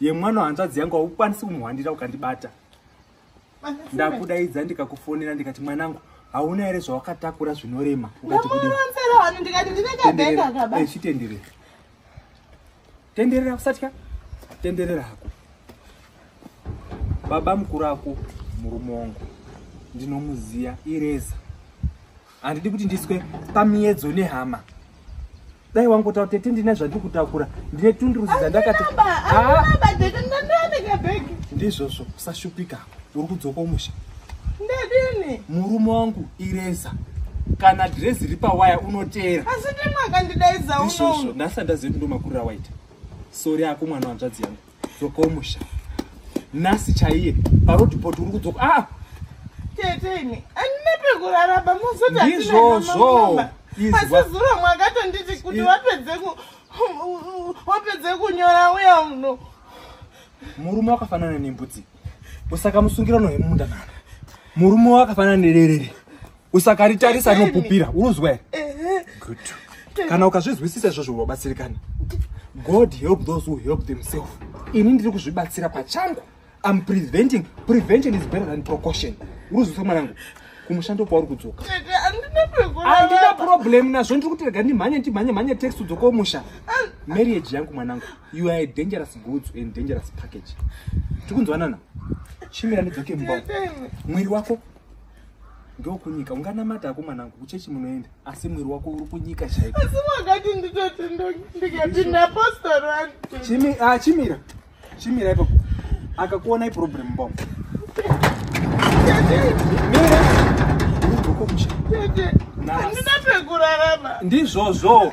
ye mwana hanzvadzi yangu haukwanisi kumuhwandira ukandibata ndakudaidza ndikakufonera ndikati mwanangu hauna here zvawakatakura zvinorema ukatikudichitenderera eh, tenderera usatya tenderera hako baba mukuru ako murume wangu ndinomuziya ireza handidi kuti ndiswe pamiedzo nehama dai wangotaura tete ndine zvandiri kutakura ndine tunduruzi dzandakati ndizvozvo usashupika uri kudzoka umusha ndadini murume wangu ireza kana dhirezi ri pawaya unoteera asi ndimwe akandidaidza unoizvozvo ndasati ndazivi kuti ndomakurira waita sori ako mwana wanzvadzi yangu dzoka umusha nhasi chaiye parodipot uri kudzoka a ah! teteni andina pekurara pamuzoti ndizvozvo pasizuro mwakatonditi kuti wapedze wapedze kunyora uya uno murume wakafanana nembudzi usaka musungirano hemumunda nana murume wakafanana nererere usakaritarisa rinopupira unonzwa here good kana ukazvizwisisa izvozvo unobatsirikana god help those who help themselves ini ndiri kuzvibatsira pachangu am preventing prevention is better than precaution uruzvisa mwanangu kumushando kwauri kudzoka andina problem nazvo ndiri kuti rega ndimhanye ndimhanye mhanye text udzoka umusha marriage yangu mwanangu you are a dangerous goods and dangerous package tikunzwanana chimira ndidzoke mumba mwiri wako ndokunyika unganamata ako mwanangu kuchechi munoenda asi mwiri wako uri kunyika chaiko asi wakati nditoti ndikapinda postorani ah, chimira chimira ipapo akakuona iproblem mbom ndizvozvo